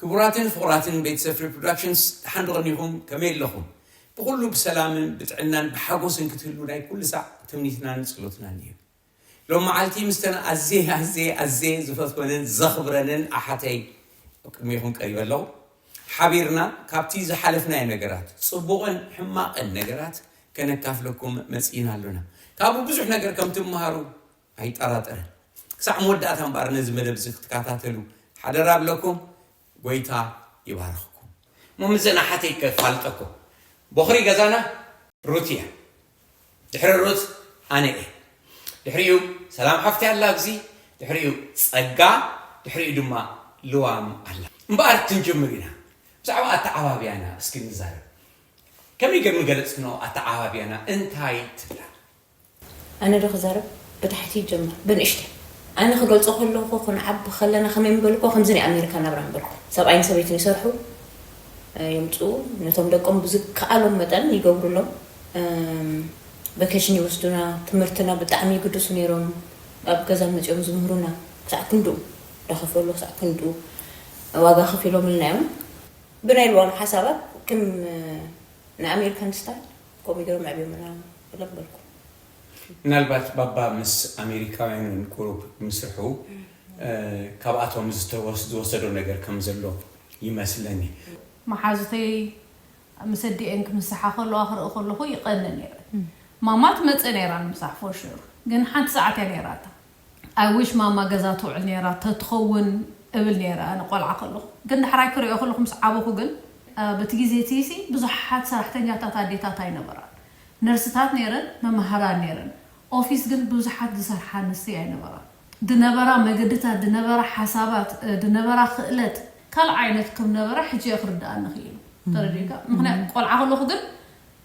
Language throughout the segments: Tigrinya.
ክቡራትን ፍቑራትን ቤተሰብ ፍሪ ፕሮዳክሽንስ ደሓን ዶ ቐኒኹም ከመይ ኣለኹም ብኹሉ ብሰላምን ብጥዕናን ብሓጎስን ክትህልዉ ናይ ኩሉ ሳዕ ትምኒትናን ጽሎትናን እዩ ሎም መዓልቲ ምስተን ኣዝየ ኣዝየ ኣዝየ ዝፈትወንን ዘኽብረንን ኣሓተይ ኣብ ቅድሜኹም ቀሪበ ኣለኹ ሓቢርና ካብቲ ዝሓለፍናዮ ነገራት ጽቡቕን ሕማቕን ነገራት ከነካፍለኩም መጺእና ኣሎና ካብኡ ብዙሕ ነገር ከም ትመሃሩ ኣይጠራጠርን ክሳዕ መወዳእታ እምበኣር ነዚ መደብ እዚ ክትካታተሉ ሓደራ እብለኩም ጎይታ ይባርኽኩም እሞ ምስዘን ኣሓተይ ከፋልጠኩም ቦኽሪ ገዛና ሩት እያ ድሕሪ ሩት ኣነ እየ ድሕሪኡ ሰላም ሓፍቲ ኣላ ኣብዚ ድሕሪኡ ጸጋ ድሕሪኡ ድማ ልዋም ኣላ እምበኣር ክንጅምር ኢና ብዛዕባ ኣተዓባብያና እስኪ ንዛረብ ከመይ ገር ምገለጽክኖ ኣተዓባብያና እንታይ ትብላ ኣነ ዶ ክዛረብ ብታሕቲ ይጀመር ብንእሽተይ ኣነ ክገልጾ ከለኩ ክንዓቢ ከለና ከመይ ምበልኩ ከምዚ ናይ ኣሜሪካ ናብራ ምበልኩ ሰብኣይን ሰበይትን ይሰርሑ የምጽኡ ነቶም ደቆም ብዝከኣሎም መጠን ይገብሩሎም ቨኬሽን ይወስዱና ትምህርትና ብጣዕሚ ይግድሱ ነይሮም ኣብ ገዛ መጺኦም ዝምህሩና ክሳዕ ክንድኡ ዳኸፈሉ ክሳዕ ክንድኡ ዋጋ ከፊሎምልና እዮም ብናይ ልዋም ሓሳባት ክም ንኣሜሪካን ስታይል። ከምኡ ገይሮም ኣዕብዮምና ኢሎም በልኩ። ምናልባት ባባ ምስ ኣሜሪካውያን እውን ቁሩብ ምስርሑ ካብኣቶም ዝወሰዶ ነገር ከም ዘሎ ይመስለኒ። መሓዙተይ ምስ ኣዲኤን ክምስሓ ከለዋ ክርኢ ከለኹ ይቐንእ ነይረ። ማማ ትመጽእ ነይራ ንምሳሕ ፎር ሹር፣ ግን ሓንቲ ሰዓት እያ ነይራታ። I wish ማማ ገዛ ትውዕል ኔራ ተትኸውን እብል ኔረ ኣነ ቆልዓ ከለኹ ግን ዳሕራይ ክሪኦ ከለኹ ምስ ዓበኹ ግን በቲ ግዜ እቲሲ ብዙሓት ሰራሕተኛታት ኣዴታት ኣይነበራን ነርስታት ኔረን መማህራን ኔረን ኦፊስ ግን ብዙሓት ዝሰርሓ ኣንስቲ ኣይነበራን ድነበራ መገድታት ድነበራ ሓሳባት ድነበራ ክእለት ካልእ ዓይነት ክም ነበረ ሕጂ እየ ክርደኣኒ ክኢሉ ተረዲኡካ ምኽንያት ቆልዓ ከለኹ ግን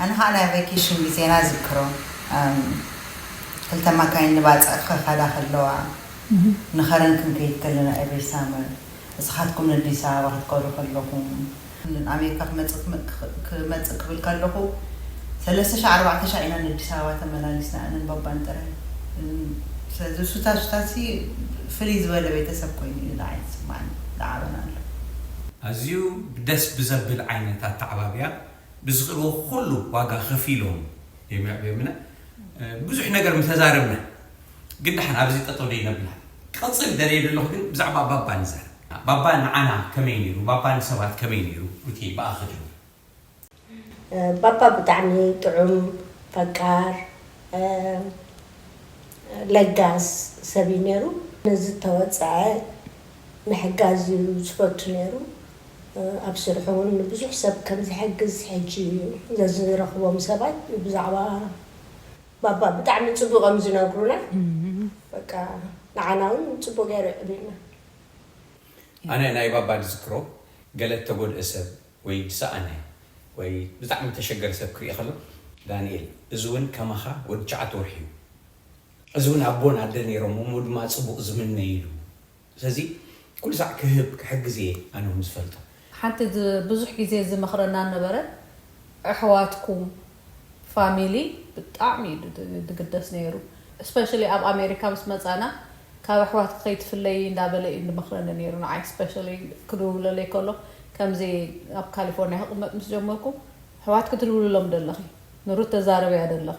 ኣነ ከኣ ናይ ቨኬሽን ግዜና እዝክሮ ክልተ ማካይን ንባጽዕ ክኸዳ ከለዋ ንኸረን ክንከይድ ከለና every summer እስኻትኩም ነዲስ ኣበባ ክትከዱ ከለኹም ንኣሜሪካ ክመጽእ ክመጽእ ክብል ከለኹ ሰለስተ ሻዕ ኣርባዕተ ሻዕ ኢና ነዲስ ኣበባ ተመላሊስና ኣነን ባባን ጥራይ ስለዚ ሱታ ሱታሲ ፍልይ ዝበለ ቤተሰብ ኮይኑ እዩ ንዓይ ዝስማዓኒ ዝዓበናሉ። ኣዝዩ ደስ ብዘብል ዓይነት ኣተዓባብያ ብዝኽእልዎ ኩሉ ዋጋ ከፊሎም እዮም የዕብዮምና። ብዙሕ ነገር ምተዛረብና ግን ደሓን ኣብዚ ጠጠው ደይነብላ ክቕፅል ደልየ ደለኹ ግን ብዛዕባ ባባ ንዛረብ። ባባ ንዓና ከመይ ነይሩ? ባባ ንሰባት ከመይ ነይሩ? ሩትየይ ብኣኺ ጀምር። ባባ ብጣዕሚ ጥዑም፣ ፈቃር፣ ለጋስ ሰብ እዩ ነይሩ። ንዝተወፀዐ ምሕጋዝ እዩ ዝፈቱ ነይሩ። ኣብ ስርሑ እውን ንብዙሕ ሰብ ከም ዝሕግዝ ሕጂ ዘዝረኽቦም ሰባት ብዛዕባ ባባ ብጣዕሚ ጽቡቕ እዮም ዝነግሩና። በቃ ንዓና እውን ጽቡቕ ገይሩ የዕብዩና። ኣነ ናይ ባባ ዝዝክሮ ገለ እተጎድኤ ሰብ ወይ ዝሰኣነ ወይ ብጣዕሚ እተሸገረ ሰብ ክርኢ ከሎ ዳኒኤል እዚ እውን ከማኻ ወዲ ትሽዓተ ወርሒ እዩ። እዚ ውን ኣቦን ኣደ ነይሮም እሞ ድማ ጽቡቅ ዝምነ ኢሉ ስለዚ ኩሉ ሳዕ ክህብ ክሕግዝ እየ ኣነ ውን ዝፈልጦ። ሓንቲ ብዙሕ ግዜ ዝመኽረና ዝነበረ ኣሕዋትኩም ፋሚሊ ብጣዕሚ እዩ ዝግደስ ነይሩ እስፐሽሊ ኣብ ኣሜሪካ ምስ መጻና ካብ ኣሕዋትኪ ከይትፍለዪ እንዳበለ እዩ ዝመኽረኒ ነይሩ ንዓይ እስፐሽሊ ክድውለለይ ከሎ ከምዚ ኣብ ካሊፎርንያ ክቅመጥ ምስ ጀመርኩ ኣሕዋትኪ ትድውልሎም ዶ ኣለኺ ንሩት ተዛርብያ ዶ ኣለኺ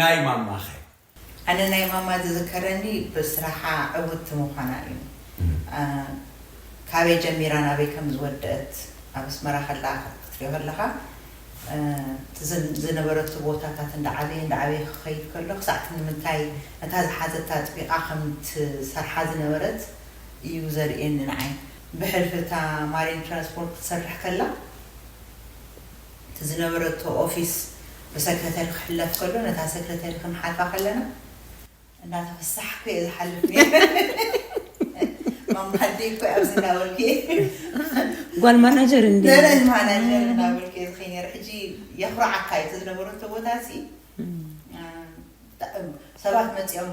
ናይ ማማኸ? ኣነ ናይ ማማ ዝዝከረኒ ብስራሓ ዕውትቲ ምዃና እዩ። ካበይ ጀሚራ ናበይ ከም ዝወደእት ኣብ ኣስመራ ከላ ክትሪኦ ከለኻ እቲ ዝነበረቶ ቦታታት እንዳዓበየ እንዳዓበየ ክኸይድ ከሎ ክሳዕ እቲ ንምንታይ ነታ ዝሓዘታ ኣጥቢቓ ከም ትሰርሓ ዝነበረት እዩ ዘርእየኒ ንዓይ። ብሕልፊ እታ ማሪን ትራንስፖርት ክትሰርሕ ከላ እቲ ዝነበረቶ ኦፊስ ብሰክረተሪ ክሕለፍ ከሎ ነታ ሰክረተሪ ክንሓልፋ ከለና እንዳተፈሳሕኩ እየ ዝሓልፍ ነይረ ማማዲ እኮ ኣብዚ እንዳበልኩ እየ ጓል ማናጀር እንዲ ደረጅ ማናጀር እንዳበልኩ እየ ዝኸይ ነይረ ሕጂ የኹርዓካ እዩ እቲ ዝነበረቶ ቦታ ሲ ሰባት መፂኦም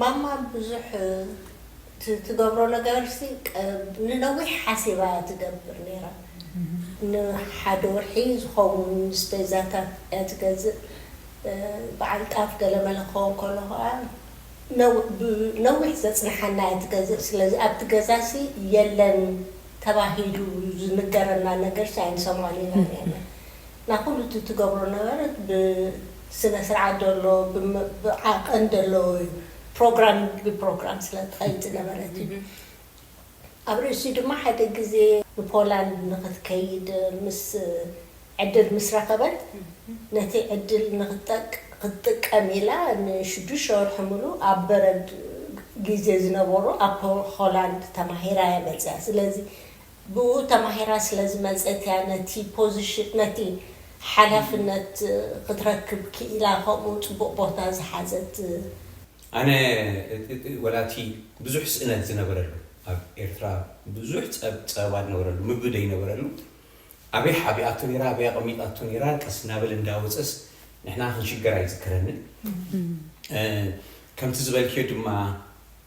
ማማ ብዙሕ እቲ ትገብሮ ነገርሲ ንነዊሕ ሓሲባ እያ ትገብር ነይራ ንሓደ ወርሒ ዝኸውን ስፔዛታት እያ ትገዝእ በዓል ጣፍ ገለ መለ ክኸውን ከሎ ከኣ ነዊሕ ዘጽንሓና እያ ትገዝእ ስለዚ ኣብቲ ገዛሲ የለን ተባሂሉ ዝንገረና ነገርሲ ኣይንሰምዖን ኢና ነይርና ናይ ኩሉ እቲ ትገብሮ ነበረት ብ ስነ ስርዓት ደሎ ብ ብ ዓቀን ደለዎ እዩ ፕሮግራም ብ ፕሮግራም ስለ ትከይድ ዝነበረት እዩ ኣብ ርእሲኡ ድማ ሓደ ግዜ ን ፖላንድ ንክትከይድ ምስ ዕድል ምስ ረከበት ነቲ ዕድል ንክትጠቅ ክትጥቀም ኢላ ን ሽዱሽተ ወርሒ ምሉ ኣብ በረድ ግዜ ዝነበሮ ኣብ ሆላንድ ተማሂራ እያ መጽያ ስለዚ ብእኡ ተማሂራ ስለ ዝመጸት እያ ነቲ ፖዚሽን ነቲ ሓላፍነት ክትረክብ ክኢላ ከምኡ ጽቡቕ ቦታ ዝሓዘት። ኣነ ወላ እቲ ብዙሕ ስእነት ዝነበረሉ ኣብ ኤርትራ ብዙሕ ጸብ ጸበባ ዝነበረሉ ምግቢ ዘይነበረሉ ኣበይ ሓቢኣቶ ኔራ ኣበይ ኣቐሚጣቶ ኔራ ቀስ እናበለ እንዳወጸስ ንሕና ክንሽገር ኣይዝክረንን ከምቲ ዝበልክዮ ድማ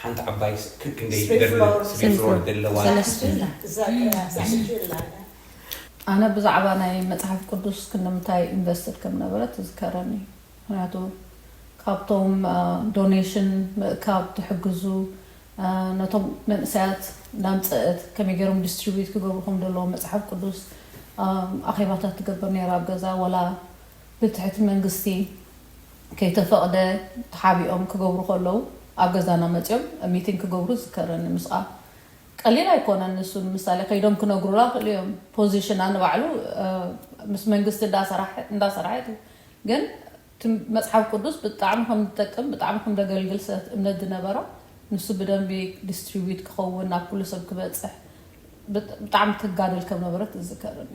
ሓንቲ ዓባይ ክብ ክንደይ ትደርብ ስቤት ፍሮድ ደለዋ። ሰለስተ እያ። እዛ ቀያ ተሰጅላ እያ። ኣነ ብዛዕባ ናይ መጽሓፍ ቅዱስ ክንድምታይ ኢንቨስትድ ከም ነበረት ይዝከረኒ ምክንያቱ ካብቶም ዶኔሽን ምእካብ ትሕግዙ ነቶም መንእሰያት እንዳምጸእት ከመይ ገሮም ዲስትሪቢዩት ክገብሩ ከም ደለዎም መጽሓፍ ቅዱስ ኣኼባታት ትገብር ነራ ኣብ ገዛ ወላ ብትሕቲ መንግስቲ ከይተፈቕደ ተሓቢኦም ክገብሩ ከለዉ ኣብ ገዛና መጽዮም ሚቲንግ ክገብሩ ዝዝከረኒ ምስኣ ቀሊል ኣይኮነን ንሱ ንምሳሌ ከይዶም ክነግሩላ ይኽእሉ እዮም ፖዚሽና ንባዕሉ ምስ መንግስቲ እንዳሰራሕ እንዳሰራሐ እዩ ግን እቲ መጽሓፍ ቅዱስ ብጣዕሚ ከም ዝጠቅም ብጣዕሚ ከም ደገልግል ሰት እምነት ዝነበራ ንሱ ብደንቢ ዲስትሪቢዩት ክኸውን ናብ ኩሉ ሰብ ክበጽሕ ብጣዕሚ ትጋደል ከም ነበረት ዝዝከረኒ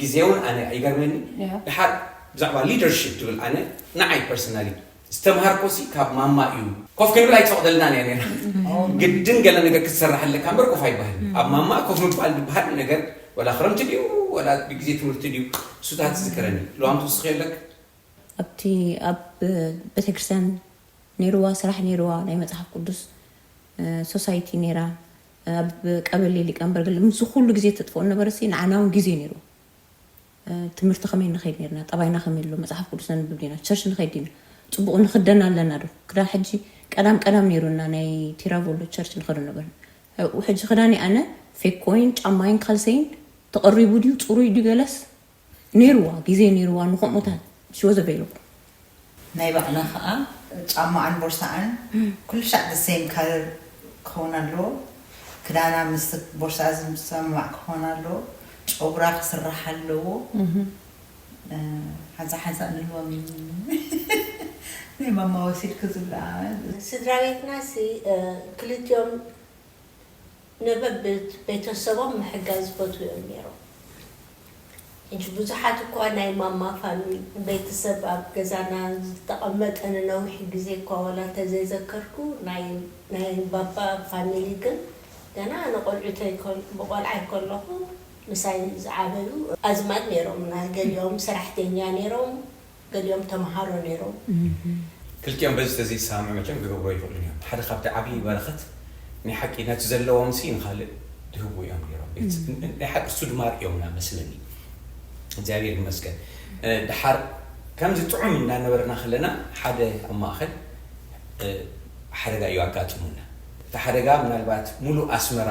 ግዜ ውን ኣነ ይገርመኒ ድሓር ብዛዕባ ሊደርሺፕ ትብል ኣነ ንዓይ ፐርሰናሊ ዝተምሃርኮሲ ካብ ማማ እዩ ኮፍ ክንብል ኣይትፈቅደልናን እያ ነይራ ግድን ገለ ነገር ክትሰራሕ ኣለካ እምበር ኮፍ ኣይባህልን ኣብ ማማ ኮፍ ምባል ዝበሃል ነገር ወላ ክረምቲ ድዩ ወላ ብግዜ ትምህርቲ ድዩ ሱታት ትዝክረኒ ልዋም ትውስኺ ኣለክ ኣብቲ ኣብ ቤተክርስትያን ነይርዋ ስራሕ ነይርዋ ናይ መጽሓፍ ቅዱስ ሶሳይቲ ነይራ ኣብ ቀበሌ ሊቀንበር ገለ ምስ ኩሉ ግዜ ተጥፍኦ ነበረ ሲ ንዓና ውን ግዜ ነይሩ ትምህርቲ ከመይ ንኸይድ ነርና ጠባይና ከመይ ኣሎ መጽሓፍ ቅዱስ ነንብብ ዲና ቸርች ንኸይድ ዲና ጽቡቕ ንኽደን ኣለና ዶ ክዳን ሕጂ ቀዳም ቀዳም ነይሩና ናይ ቲራቮሎ ቸርች ንኸዶ ነበር ሕጂ ክዳኒ ኣነ ፌኮይን ጫማይን ካልሰይን ተቐሪቡ ድዩ ጽሩይ ድዩ ገለስ ኔርዋ ግዜ ኔርዋ ንከምኡታት she was available። ናይ ባዕላ ከኣ ጫማኣን ቦርሳኣን ኩልሻዕ the same color ክከውን ኣለዎ ክዳና ምስቲ ቦርሳኣ ዝሰማማዕ ክኮን ኣለዎ ጨጉራ ክስራሕ ኣለዎ ሓንሳእ ሓንሳእ ንህቦም ናይ ማማ ወሲድኪ ዝብላ። ስድራቤትናሲ ክልቲኦም። ነበብ ቤተሰቦም ምሕጋዝ ይፈትዉ እዮም ነይሮም። ሕጂ ብዙሓት እኳ ናይ ማማ ፋኑይ ቤተሰብ ኣብ ገዛና ዝተቐመጠ ንነዊሕ ግዜ እኳ ዋላ እንተዘይዘከርኩ ናይ ናይ ባባ ፋሚሊ ግን ገና ንቆልዑተይ ብቆልዓይ ከለኹ ምሳይ ዝዓበዩ ኣዝማድ ነይሮምና ገሊኦም ሰራሕተኛ ነይሮም ገሊኦም ተምሃሮ ነይሮም። ክልቲኦም በዚ ተዘይሰማምዑ መቸም ክገብሩ ኣይኽእሉን እዮም። ሓደ ካብቲ ዓብዪ በረኸት ናይ ሓቂ ነቲ ዘለዎምሲ ንኻልእ ድህቡ እዮም ነይሮም። ናይ ሓቂ እሱ ድማ ኣርእዮምና መስለኒ። እግዚኣብሔር ይመስገን። ደሓር ከምዚ ጥዑም እናነበርና ከለና ሓደ ኣብ ማእኸል ሓደጋ እዩ ኣጋጢሙና። እቲ ሓደጋ ምናልባት ሙሉእ ኣስመራ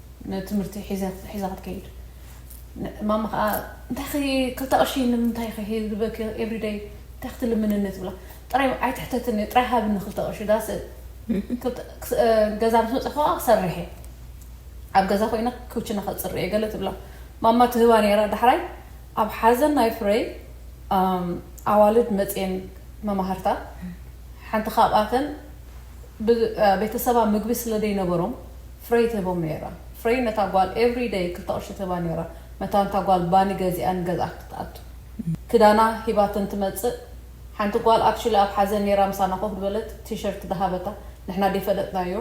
ንትምህርቲ ሒዛ ክትከይድ ማማ ከኣ እንታይ ክልተ ቅርሺ ንምንታይ ክህበኪ ኤቭሪ ደይ እንታይ ክትልምንኒ ትብላ ጥራይ ኣይትሕተትኒ ጥራይ ሃብኒ ክልተ ቅርሺ ዳስ ገዛ ምስ መጻኹ ከኣ ክሰርሕ እየ ኣብ ገዛ ኮይነ ክውችና ከጽሪ እየ ገለ ትብላ ማማ ትህባ ነይራ ዳሕራይ ኣብ ሓዘን ናይ ፍረይ ኣዋልድ መጽየን መማህርታ ሓንቲ ካብኣተን ቤተሰባ ምግቢ ስለ ዘይነበሮም ፍረይ ትህቦም ነይራ። ፍረይ ነታ ጓል ኤቭሪ ደይ ክልተ ቅርሺ ትህባ ነይራ፣ መታን እታ ጓል ባኒ ገዚኣ ንገዝኣ ክትኣቱ። ክዳና ሂባተን ትመጽእ። ሓንቲ ጓል ኣክቹሊ ኣብ ሓዘን ነይራ ምሳና ኮፍ ድበለት ቲሸርት ድሃበታ ንሕና ደይፈለጥናዮ።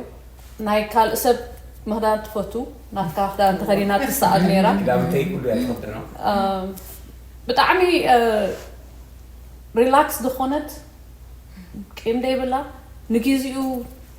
ናይ ካልእ ሰብ ምኽዳን ትፈቱ፣ ናትካ ክዳን ተኸዲና ትሰኣል ነይራ። ክዳውንተይ ኩሉ እያ ትኽደኖ። ብጣዕሚ ሪላክስ ዝኾነት ቂም ደይብላ ንጊዚኡ።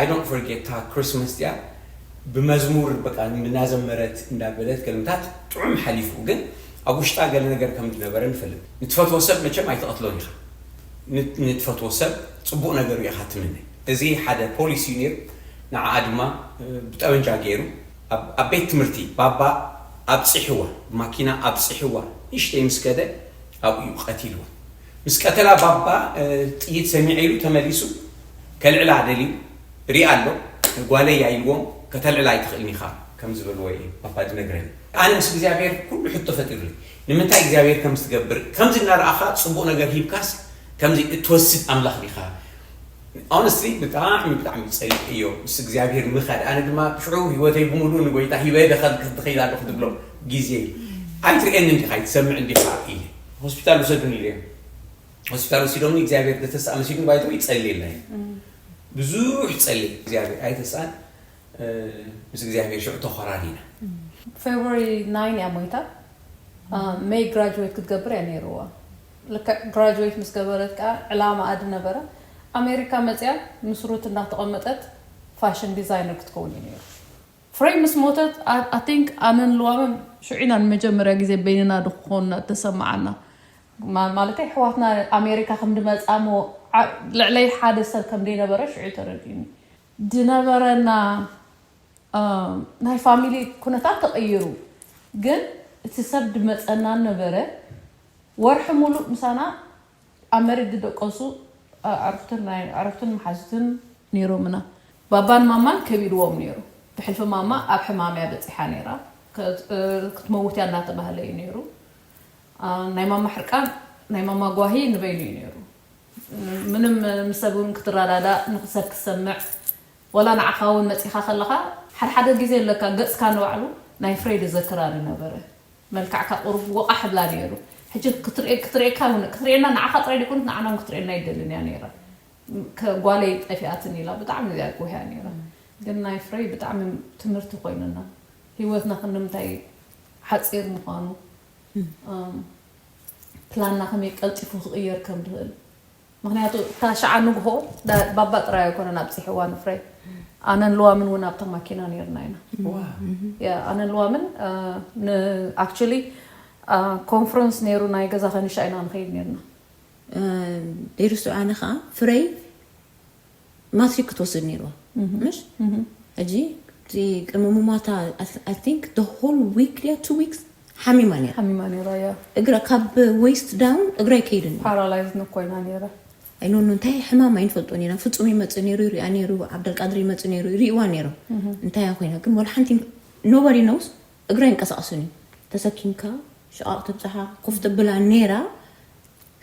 I don't forget እታ Christmas እቲኣ ብመዝሙር በቃ እናዘመረት እንዳበለት ገልምታት ጥዑም ሓሊፉ ግን ኣብ ውሽጣ ገለ ነገር ከም ዝነበረ ንፈልጥ ንትፈትዎ ሰብ መቸም ኣይትቀትሎን ኢካ ንትፈትዎ ሰብ ጽቡቅ ነገር ኢካ ትምነ እዚ ሓደ ፖሊስ እዩ ኔሩ ንዓኣ ድማ ብጠበንጃ ጌሩ ኣብ ቤት ትምህርቲ ባባ ኣብጺሕዋ ብማኪና ኣብጺሕዋ ንእሽተይ ምስ ከደ ኣብኡ እዩ ቀቲልዋ ምስ ቀተላ ባባ ጥይት ሰሚዐ ኢሉ ተመሊሱ ከልዕላ ደልዩ ሪኣ ኣሎ ጓለይ እያ ኢልዎም ከተልዕላ ኣይትኽእልን ኢኻ ከም ዝበልዎ እየ ባባ ዝነግረኒ ኣነ ምስ እግዚኣብሔር ኩሉ ሕቶ ፈጢሩለይ ንምንታይ እግዚኣብሔር ከምዚ ትገብር ከምዚ እናረኣኻ ጽቡቕ ነገር ሂብካስ ከምዚ እትወስድ ኣምላኽ ዲኻ ኦነስትሊ ብጣዕሚ ብጣዕሚ ጸሊእ እዮ ምስ እግዚኣብሔር ምኻድ ኣነ ድማ ሽዑ ህይወተይ ብምሉእ ንጎይታ ሂበ ድኸል ክትኸይድ ኣለኹ ትብሎ ግዜ እዩ ኣይትርእየኒ እንዲኻ ኣይትሰምዕ እንዲኻ እየ ሆስፒታል ውሰዱኒ ኢለዮም ሆስፒታል ወሲዶምኒ እግዚኣብሔር ብተስኣ መሲሉኒ ባይቶ ይጸልየልና እዩ ብዙሕ ጸልየ እግዚኣብሔር ኣይተስኣን ምስ እግዚኣብሔር ሽዑ ተኾራሪና ፌብሪ ናይን እያ ሞይታ መይ ግራጅዌት ክትገብር እያ ነይርዋ ልክዕ ግራጅዌት ምስ ገበረት ከዓ ዕላማኣ ድነበረ ኣሜሪካ መፅያ ምስ ሩት እናተቐመጠት ፋሽን ዲዛይነር ክትከውን እዩ ነይሩ ፍረይ ምስ ሞተት ኣይ ቲንክ ኣነን ልዋምን ሽዑ ኢና ንመጀመርያ ግዜ በይንና ድኾንና እተሰመዓና። ማለተይ ኣሕዋትና ኣሜሪካ ከም ድመጽኣ እሞ ልዕለይ ሓደ ሰብ ከም ደይነበረ ሽዑ እዩ ተረዲኡኒ። ድነበረና ናይ ፋሚሊ ኩነታት ተቐይሩ ግን እቲ ሰብ ድመጸና ነበረ። ወርሒ ሙሉእ ምሳና ኣብ መሬት ዝደቀሱ ኣዕሩኽትን ናይ ኣዕሩኽትን መሓዙትን ነይሮምና። ባባን ማማን ከቢድዎም ነይሩ። ብሕልፊ ማማ ኣብ ሕማም እያ በጺሓ ነይራ። ክትመውት እያ እናተባህለ እዩ ነይሩ። ናይ ማማ ሕርቃን፣ ናይ ማማ ጓሂ ንበይኑ እዩ ነይሩ። ምንም ምስ ሰብ እውን ክትረዳዳእ፣ ንሰብ ክትሰምዕ፣ ዋላ ንዓኻ እውን መጺኻ ከለኻ፣ ሓድሓደ ግዜ ለካ ገጽካ ንባዕሉ ናይ ፍሬድ እዘክራ ንነበረ። መልክዕካ ቁሩብ ወቓሕ እብላ ኔሩ ሕጂ ክትርእየክ ክትርእየካ ውን ክትርእየና ንዓኻ ጥራይ ደይኮነት ንዓና ውን ክትርእየና ኣይትደልን ኢያ ኔራ ከ ጓለይ ጠፊኣትኒ ኢላ ብጣዕሚ ኢያ ጎህያ ኔራ ግን ናይ ፍረይ ብጣዕሚ ትምህርቲ ኮይኑና ሂወትና ክንምንታይ ሓጺር ምዃኑ ፕላንና ከመይ ቀልጢፉ ክቕየር ከም ድኽእል ምኽንያቱ እታ ሽዓ ንግሆ ባባ ጥራይ ኣይኮነን ኣብጺሕዋ ንፍሬ ኣነን ልዋምን እውን ኣብታ ማኪና ነይርና ኢና ያ ኣነን ልዋምን ን ኣክቹሊ ኮንፈረንስ ነይሩ ናይ ገዛ ከንሻ ኢና ንኸይድ ነይርና ደይርሱ ኣነ ከዓ ፍረይ ማትሪክ ክትወስድ ነይርዋ ምሽ ሕጂ እቲ ቅምሙማታ ኣይ ቲንክ ደ ሆል ዊክ ድያ ቱ ዊክስ ሓሚማ ነይራ ሓሚማ ነይራ እያ እግራ ካብ ዌስት ዳውን እግራ ኣይከይድን እዩ ፓራላይዝ ንኮይና ነይራ ኣይኖኑ እንታይ ሕማም ኣይንፈልጦን ኢና ፍፁም ይመፅእ ነይሩ ይሪኣ ነይሩ ዓብደልቃድር ይመፅእ ነይሩ ይሪእዋ ነይሮም እንታይ እያ ኮይና ግን ወላ ሓንቲ ኖበዲ ነውስ እግራ ይንቀሳቀስን እዩ ተሰኪምካ ሽቓቕ ተብፅሓ ኮፍ ተብላ ነይራ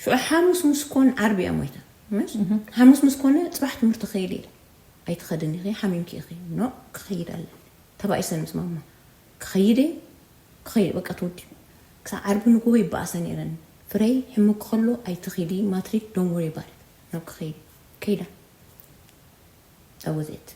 ሽዑ ሓሙስ ምስ ኮን ዓርቢ እያ ሞይታ ምስ ሓሙስ ምስ ኮነ ጽባሕ ትምህርቲ ክኸይድ ኢለ ኣይትኸድን ኢኺ ሓሚምኪ ኢኺ ኖእ ክኸይድ ኣለኒ ተባኢሰን ምስ ማማ ክኸይድ እየ ክኸይድ በቃ ተወዲኡ ክሳብ ዓርቢ ንግሆ ይበኣሳ ኔረን ፍረይ ሕሙኪ ከሎ ኣይትኺዲ ማትሪክ ዶንት ወሪ ኣባውት ኢት ናብ ክኸይድ እዩ ከይዳ that was it።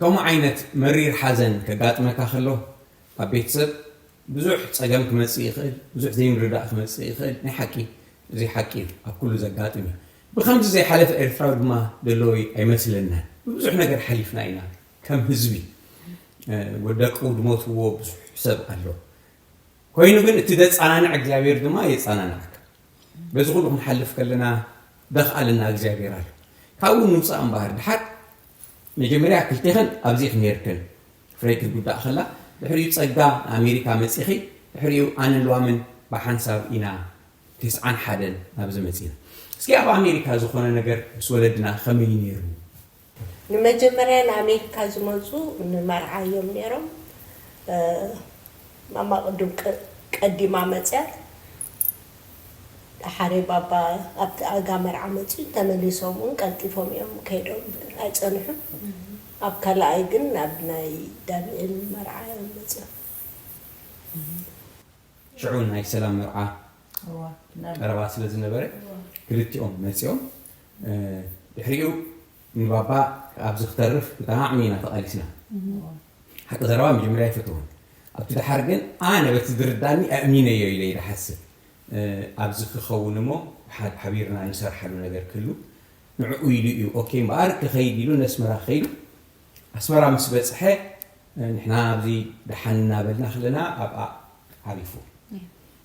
ከምኡ ዓይነት መሪር ሓዘን ከጋጥመካ ከሎ ኣብ ቤተሰብ ብዙሕ ጸገም ክመጽእ ይኽእል፣ ብዙሕ ዘይምርዳእ ክመጽእ ይኽእል፣ ናይ ሓቂ እዚ ሓቂ እዩ ኣብ ኩሉ ዘጋጥም እዩ። ብከምዚ ዘይሓለፈ ኤርትራዊ ድማ ዘሎ ኣይመስለናን ብብዙሕ ነገር ሓሊፍና ኢና ከም ህዝቢ ደቁ ዝሞትዎ ብዙሕ ሰብ ኣሎ ኮይኑ ግን እቲ ዘጸናንዕ እግዚኣብሔር ድማ የጸናንዓካ በዚ ኩሉ ክንሓልፍ ከለና ደኽኣልና እግዚኣብሔር ኣሎ ካብኡ ንውጻእ እምበኣር ድሓር መጀመርያ ክልቴኽን ኣብዚኽ ኔርክን ፍረይ ክትጉዳእ ከላ ድሕሪኡ ጸጋ ንኣሜሪካ መጺኺ ድሕሪኡ ኣነን ልዋምን ብሓንሳብ ኢና ቴስዓን ሓደን ናብዚ መጺና እስኪ ኣብ ኣሜሪካ ዝኾነ ነገር ምስ ወለድና ከመይ እዩ ኔሩ ንመጀመርያ ንኣሜሪካ ዝመጹ ንመርዓ እዮም ነይሮም። ማማ ቅዱም ቀዲማ መጽያ። ደሓረይ ባባ ኣብቲ ኣጋ መርዓ መጽዩ ተመሊሶም እውን ቀልጢፎም እዮም ከይዶም ኣይጸንሑን። ኣብ ካልኣይ ግን ናብ ናይ ዳኒኤል መርዓ እዮም መጽዮም። ሽዑ ናይ ሰላም መርዓ ቀረባ ስለ ዝነበረ ክልቲኦም መፂኦም ድሕሪኡ ንባባ ኣብዚ ክተርፍ ብጣዕሚ ኢና ተቓሊስና ሓቂ ዘረባ መጀመርያ ኣይፈተውን ኣብቲ ድሓር ግን ኣነ በቲ ዝርዳእኒ ኣእሚነዮ ኢለ ይድሓስብ ኣብዚ ክኸውን እሞ ሓቢርና ንሰርሓሉ ነገር ክህሉ ንዕኡ ኢሉ እዩ ኦኬ እምበኣር ክኸይድ ኢሉ ነስመራ ከይዱ ኣስመራ ምስ በፅሐ ንሕና ኣብዚ ደሓን እናበልና ከለና ኣብኣ ዓሪፉ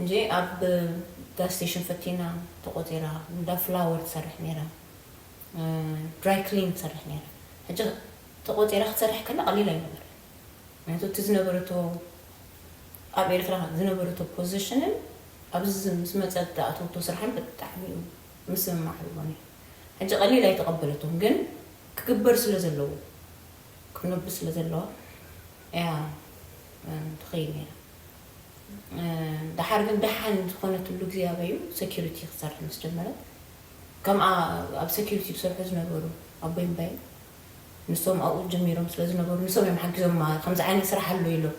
እንጂ ኣብ ጋስቴሽን ፈቲና ተቆጺራ እንዳ ፍላወር ትሰርሕ ኔራ ድራይ ክሊን ትሰርሕ ኔራ ሕጂ ተቆጺራ ክትሰርሕ ከላ ቀሊል ኣይነበረን ምክንያቱ እቲ ዝነበረቶ ኣብ ኤርትራ ዝነበረቶ ፖዚሽንን ኣብዚ ምስ መጸት ዝኣተወቶ ስራሕን ብጣዕሚ እዩ ምስምማዕ ኣለዎ ኔሩ ሕጂ ቀሊል ኣይተቀበለቶን ግን ክግበር ስለ ዘለዎ ክነብ ስለ ዘለዋ እያ ትኸይድ ኔራ። ደሓር ግን ደሓን ዝኾነትሉ ግዜ ኣበዩ ሰኩሪቲ ክሰርሕ ምስ ጀመረ ከምኣ ኣብ ሰኩሪቲ ዝሰርሑ ዝነበሩ ኣቦይ እምባይን ንሶም ኣብኡ ጀሚሮም ስለ ዝነበሩ ንሶም እዮም ሓጊዞማ ከምዚ ዓይነት ስራሕ ኣሎ ኢሎም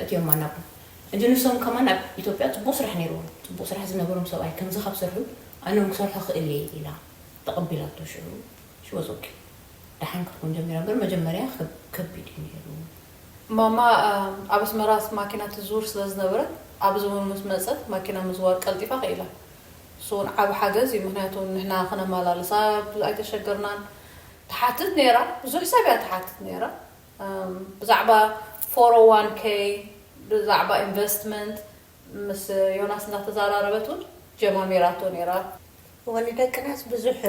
እትዮማ ናብኡ ሕጂ ንሶም ከማን ኣብ ኢትዮጵያ ጽቡቕ ስራሕ ነይርዎም ጽቡቕ ስራሕ ዝነበሮም ሰብኣይ ከምዚ ካብ ሰርሑ ኣነ ውን ክሰርሖ ክእል እየ ኢላ ተቐቢላቶ ሽዑ ሽወጾኪ ደሓን ክትኮን ጀሚራ እምበር መጀመርያ ከቢድ እዩ ነይሩ ማማ ኣብ ኣስመራ ማኪና ትዝውር ስለ ዝነበረት ኣብ ዝሙን ምስ መጸት ማኪና ምዝዋር ቀልጢፋ ክኢላ። ንሱ ውን ዓቢ ሓገዝ እዩ ምኽንያቱ ንሕና ክነማላልሳ ብዙ ኣይተሸገርናን። ትሓትት ኔራ ብዙሕ ሰብ እያ ትሓትት ኔራ ብዛዕባ ፎር ኦን ዋን ከይ ብዛዕባ ኢንቨስትመንት ምስ ዮናስ እንዳተዛራረበት ውን ጀማሚራቶ ኔራ። እወ ንደቅናስ ብዙሕ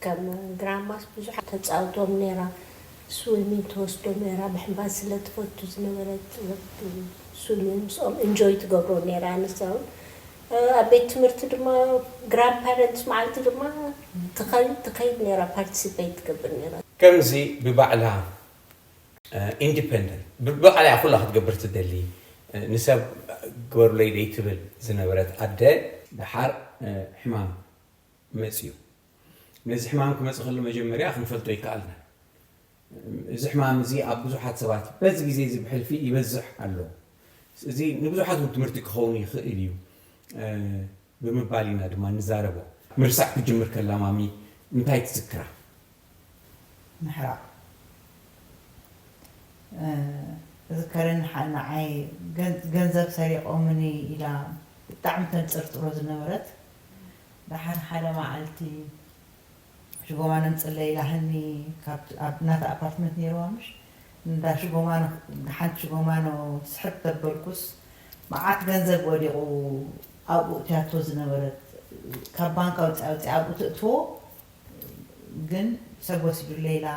ከም ድራማስ ብዙሕ ተጻውቶም ኔራ ስዊሚን ትወስዶም ኔራ ምሕንባስ ስለ ትፈቱ ዝነበረት ወዲ ስዊሚን ምስኦም እንጆይ ትገብሮ ኔራ ንሳ ውን ኣብ ቤት ትምህርቲ ድማ ግራንድ ፓረንትስ መዓልቲ ድማ ትኸይድ ትኸይድ ኔራ ፓርቲሲፐይት ትገብር ኔራ። ከምዚ ብባዕላ ኢንዲፐንደንት ብባዕላ እያ ኩላ ክትገብር ትደሊ ንሰብ ግበሩለይ ደይትብል ዝነበረት ኣደ፣ ደሓር ሕማም መጺኡ ነዚ ሕማም ክመጽእ ከሎ መጀመርያ ክንፈልጦ ኣይከኣልናን እዚ ሕማም እዚ ኣብ ብዙሓት ሰባት በዚ ግዜ እዚ ብሕልፊ ይበዝሕ ኣሎ እዚ ንብዙሓት ውን ትምህርቲ ክኸውን ይኽእል እዩ። ብምባል ኢና ድማ እንዛረቦ። ምርሳዕ ክትጅምር ከላ ማሚ እንታይ ትዝክራ? ምሕራቕ እዝከርን ሓ ንዓይ ገን ገንዘብ ሰሪቖምኒ ኢላ ብጣዕሚ ተንጽርጽሮ ዝነበረት። ደሓር ሓደ መዓልቲ ሽጎማነ ንጽለ ኢላ ሃኒ ካብ ኣብ ናታ ኣፓርትመንት ኔርዋ ምሽ ንዳ ሽጎማነ ሓንቲ ሽጎማነ ስሕብ ተበልኩስ መዓት ገንዘብ ወዲቁ ኣብኡ እትያቶ ዝነበረት ካብ ባንክ ኣውጺኣ ኣውጺኣ ኣብኡ ተእትዎ ግን ሰብ ወሲዱለይ ኢላ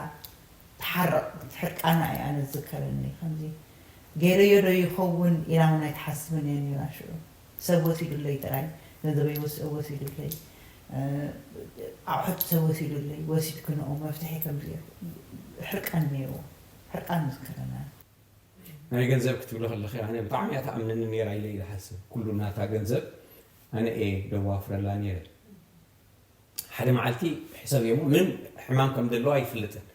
ትሓርቅ ሕርቃና ኢዩ ኣነ ዝዝከረኒ ከምዚ ጌረዮ ዶ ይከውን ኢላ ውን ኣይትሓስብን ኢያ ኔራ ሽዑ ሰብ ወሲዱለይ ጥራይ ገንዘበይ ወሲዱለይ ኣቑሑት ሰብ ወሲዱለይ ወሲድክንኦ መፍትሒ ከምዘይ ሕርቃን ኔርዎ ሕርቃን ምስክርና። ናይ ገንዘብ ክትብሊ ከለኺ ኣነ ብጣዕሚ እያ ትኣምነኒ ኔራ ኢለ እየ ዝሓስብ ኩሉ ናታ ገንዘብ ኣነ እየ ደዋፍረላ ኔረ ሓደ መዓልቲ ሕሰብዮ እሞ ምንም ሕማም ከም ዘለዋ ኣይፍልጥን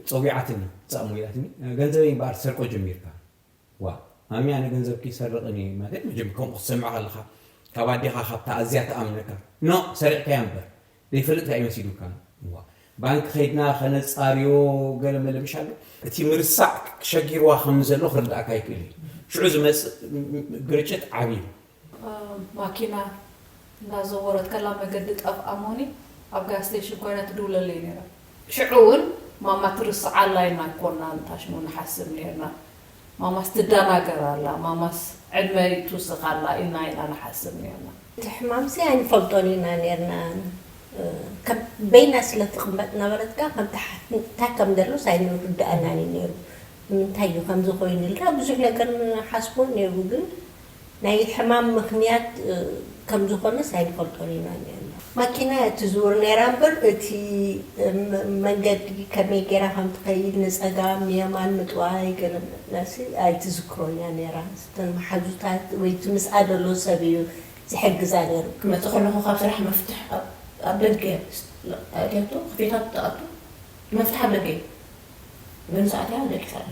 ጸዊዓትኒ ትሰኣሞ ኢላትኒ ገንዘበይ እምበኣር ትሰርቆ ጀሚርካ ዋው ማሚ ኣነ ገንዘብ ክይሰርቅን እየ ማለት መቸም ከምኡ ክትሰምዕ ከለካ ካብ ኣዴካ ካብታ ኣዝያ ትኣምነካ ኖእ ሰሪቅካያ እምበር ደይፈልጥ ታይ መሲሉካ እዋ ባንኪ ከይድና ከነጻርዮ ገለ መለ ምሽ ኣሎ እቲ ምርሳዕ ሸጊርዋ ከም ዘሎ ክርድኣካ ይክእል እዩ ሽዑ ዝመጽእ ግርጭት ዓቢ እዩ ማኪና እንዳዘወረት ከላ መገዲ ጠፍኣሞኒ ኣብ ጋዝ ስተሽን ኮይና ትድውለለይ ነይራ ሽዑ ውን ማማ ትርስዓላ ኢና እኮ እና ንታሽሙ ንሓስብ ነይርና ማማስ ትዳናገር ኣላ ማማስ ዕድመ ትውስክ ኣላ ኢልና ኢና ንሓስብ ነይርና። እቲ ሕማምሲ ኣይንፈልጦን ኢና ነይርና ከም በይና ስለ ትቅመጥ ነበረት ከኣ ከምቲ ሓፍቲ እንታይ ከም ደሎስ ኣይንርደኣናን እዩ ነይሩ ንምንታይ እዩ ከምዚ ኮይኑልና ብዙሕ ነገር ንሓስቦ ነይሩ ግን ናይ ሕማም ምኽንያት ከም ዝኾነስ ኣይንፈልጦን ኢና ኔርና። ማኪና እያ ትዝውር ኔራ እምበር እቲ መንገዲ ከመይ ጌራ ከም ትኸይድ ንጸጋም የማን ምጥዋይ ገለ መልሲ ኣይትዝክሮን እያ ኔራ። እተን መሓዙታ ወይ እቲ ምስኣ ዘሎ ሰብ እዩ ዝሕግዛ ኔሩ። ክመጽእ ከለኹ ካብ ስራሕ መፍትሕ ኣብ ደገ እያ ኣእትያቶ፣ ከፊታ ትኣቱ መፍትሕ ኣብ ደገ እዩ። ገንዘእ ኣትያ ደቂሳ ኣላ።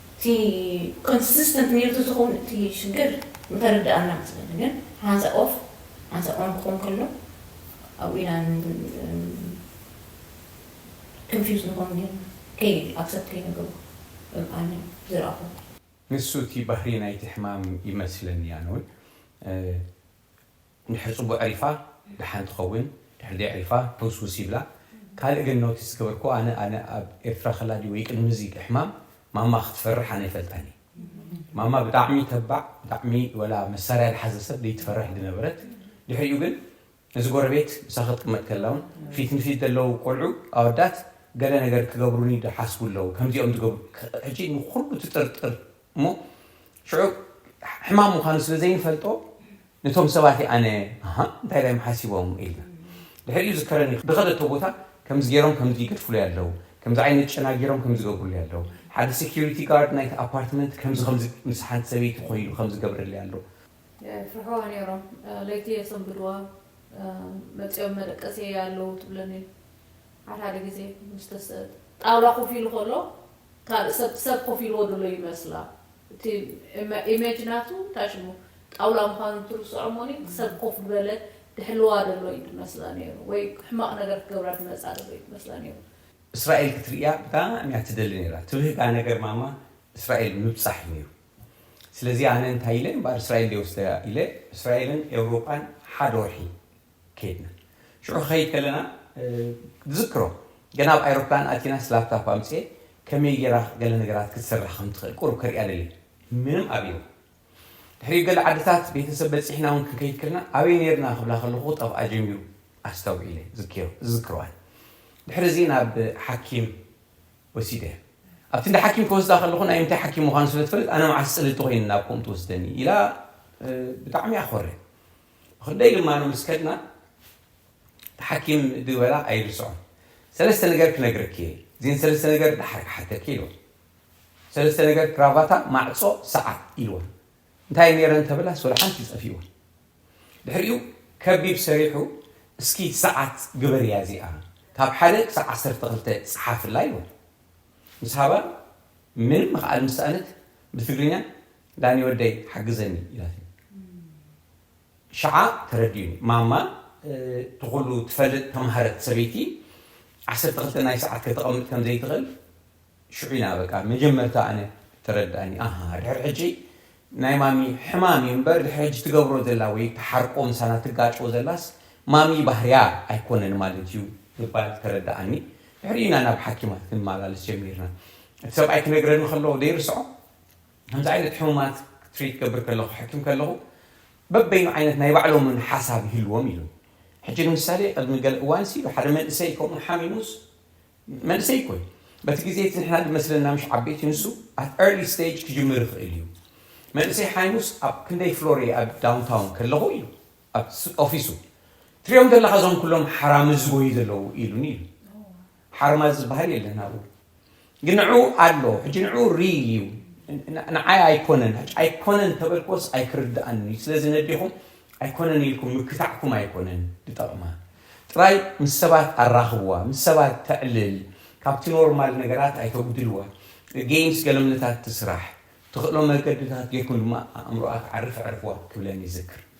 እቲ ኮንስስተንት ኔሩ ተዝኸውን እቲ ሽግር ምተረደኣና መስለኒ ግን ሓንሳእ ኦፍ ሓንሳእ ኦን ክኾን ከሎ ኣብኡ ኢና ክንፊውዝ ንኾን ኔርና ከይ ኣክሰፕት ከይንገብሮ እም ኣነ ብዝረኣኹዎ። ንሱ እቲ ባህሪ ናይቲ ሕማም ይመስለኒ ኣነውን። ንሕጽቡ ኣዕሪፋ ደሓን ትኸውን ድሕሪ ደይዕሪፋ ሕውስውስ ይብላ ካልእ ግን ኖቲስ ዝገበርክዎ ኣነ ኣነ ኣብ ኤርትራ ከላ ድዩ ወይ ቅድሚ እዚ ሕማም ማማ ክትፈርሕ ኣነ ይፈልጣን እየ ማማ ብጣዕሚ ተባዕ ብጣዕሚ ወላ መሳርያ ዝሓዘ ሰብ ደይትፈርሕ ድነበረት ድሕሪኡ ግን እዚ ጎረቤት ምሳኺ ክትቅመጥ ከላ ውን ፊት ንፊት ደለዉ ቆልዑ ኣወዳት ገለ ነገር ክገብሩኒ ድሓስቡ ኣለዉ ከምዚኦም ድገብሩ ሕጂ ንኹሉ ትጥርጥር እሞ ሽዑ ሕማም ምዃኑ ስለ ዘይንፈልጦ ነቶም ሰባት እዩ ኣነ ኣሃ እንታይ ዳዮም ሓሲቦም ኢልና ድሕሪኡ ዝከረኒ ብኸደቶ ቦታ ከምዚ ገይሮም ከምዚ ይገድፍሉይ ኣለው ከምዚ ዓይነት ጨና ገይሮም ከምዚ ይገብሩሉይ ኣለው ሓደ ሴኩሪቲ ጋርድ ናይቲ ኣፓርትመንት ከምዚ ከምዚ ምስ ሓንቲ ሰበይቲ ኮይኑ ከምዚ ይገብረልይ ኣሎ የፍርሕዋ ነይሮም ለይቲ የሰንብድዋ መጺኦም መደቀሲየይ ኣለው ትብለኒ ሓድሓደ ግዜ ምስ ጣውላ ኮፍ ኢሉ ከሎ ካልእ ሰብ ሰብ ኮፍ ኢልዎ ዘሎ ይመስላ እቲ ኢመጅ ናቱ እንታይ ሽሙ ጣውላ ምዃኑ ትርስዖ እሞኒ ሰብ ኮፍ ድበለ ድሕልዋ ደሎ እዩ ድመስላ ነይሩ ወይ ሕማቕ ነገር ክገብራ ድመጻ ደሎ እዩ ድመስላ ነይሩ። እስራኤል ክትርእያ ብጣዕሚ እያ ትደሊ ነይራ ትብህጋ ነገር ማማ እስራኤል ምብጻሕ እዩ ነይሩ ስለዚ ኣነ እንታይ ኢለ እምበኣር እስራኤል ድየ ወስደያ ኢለ እስራኤልን ኤውሮጳን ሓደ ወርሒ ከድና ሽዑ ክኸይድ ከለና ዝክሮ ገና ኣብ ኣይሮፕላን ኣቲናስ ላፕታፕ ኣምፅኤ ከመይ ጌራ ገለ ነገራት ክትስራሕ ከም ትኽእል ቁሩብ ከርእያ ደልየ ምንም ኣብይዋ ድሕሪኡ ገለ ዓድታት ቤተሰብ በፂሕና እውን ክንከይድ ከለና ኣበይ ነይርና ክብላ ከለኹ ክጠፍኣ ጀሚሩ ኣስተውዒለ ዝክሮዋን ድሕሪ እዚ ናብ ሓኪም ወሲደ ኣብቲ እንዳ ሓኪም ክወስዳ ከለኹ ናይ ምንታይ ሓኪም ምዃኑ ስለ ትፈልጥ ኣነ መዓስ ፅልልቲ ኮይኑ ናብ ከምኡ ትወስደኒ ኢላ ብጣዕሚ ኣኾረ ብኽንደይ ልማኖ ምስ ከድና እቲ ሓኪም ድበላ ኣይርስዖን። ሰለስተ ነገር ክነግረኪ እየ፣ እዚን ሰለስተ ነገር ደሓር ክሓተኪ ኢልዋ። ሰለስተ ነገር ክራቫታ፣ ማዕጾ፣ ሰዓት ኢልዋ። እንታይ ኔረን ተበላስ ወላ ሓንቲ ጠፊእዋ። ድሕሪኡ ከቢብ ሰሪሑ እስኪ ሰዓት ግበርያ እዚኣ ካብ ሓደ ክሳዕ ዓሰርተ ክልተ ጽሓፍላ ኢልዋ። ምስ ሃባ ምንም ምኽኣል ምስ ሰኣነት ብትግርኛ ዳኒ ወደይ ሓግዘኒ ኢላትኒ ሽዓ ተረዲኡኒ ማማ እቲ ኩሉ ትፈልጥ ተማህረት ሰበይቲ ዓሰርተ ክልተ ናይ ሰዓት ከተቐምጥ ከም ዘይትኽእል ሽዑ ኢና በቃ መጀመርታ ኣነ ተረድኣኒ ኣሃ ድሕሪ ሕጂ ናይ ማሚ ሕማም እዩ እምበር ድሕሪ ሕጂ ትገብሮ ዘላ ወይ ትሓርቆ ምሳና ትጋጮ ዘላስ ማሚ ባህርያ ኣይኮነን ማለት እዩ ምባል ተረድኣኒ ድሕሪኡ ኢና ናብ ሓኪማት ክንመላለስ ጀሚርና እቲ ሰብኣይ ክነግረኒ ከሎ ዘይርስዖ ከምዚ ዓይነት ሕሙማት ትሪት ክገብር ከለኹ፣ ክሕክም ከለኹ፣ በበይኑ ዓይነት ናይ ባዕሎምን ሓሳብ ይህልዎም ኢሉ። ሕጂ ንምሳሌ ቅድሚ ገለ እዋንሲ ኢሉ ሓደ መንእሰይ ከምኡ ሓሚሙስ፣ መንእሰይ እኮ እዩ፣ በቲ ግዜ እቲ ንሕና ዝመስለና ምሽ ዓበይቲ ንሱ at early stage ክጅምር ይኽእል እዩ። መንእሰይ ሓይሙስ ኣብ ክንደይ ፍሎር እየ ኣብ ዳውንታውን ከለኹ ኢሉ ኣብ ኦፊሱ ትሪኦም ዘለኻ እዞም ኩሎም ሓራምዝ ዝጎዩ ዘለዉ ኢሉኒ ኢሉ። ሓርማዝ ዝበሃል የለን ኣብኡ። ግን ንዕኡ ኣሎ ሕጂ ንዕኡ ሪል እዩ ንዓይ ኣይኮነን ሕጂ ኣይኮነን ተበልክዎስ ኣይክርድኣንን እዩ ስለዚ ነዴኹም ኣይኮነን ኢልኩም ምክታዕኩም ኣይኮነን ድጠቕማ ጥራይ ምስ ሰባት ኣራኽብዋ ምስ ሰባት ተዕልል ካብቲ ኖርማል ነገራት ኣይተጉድልዋ ገይምስ ገለምልታት ትስራሕ ትኽእሎ መገድታት ጌርኩም ድማ ኣእምሮኣ ክዓርፍ ኣዕርፍዋ ክብለን ይዝክር።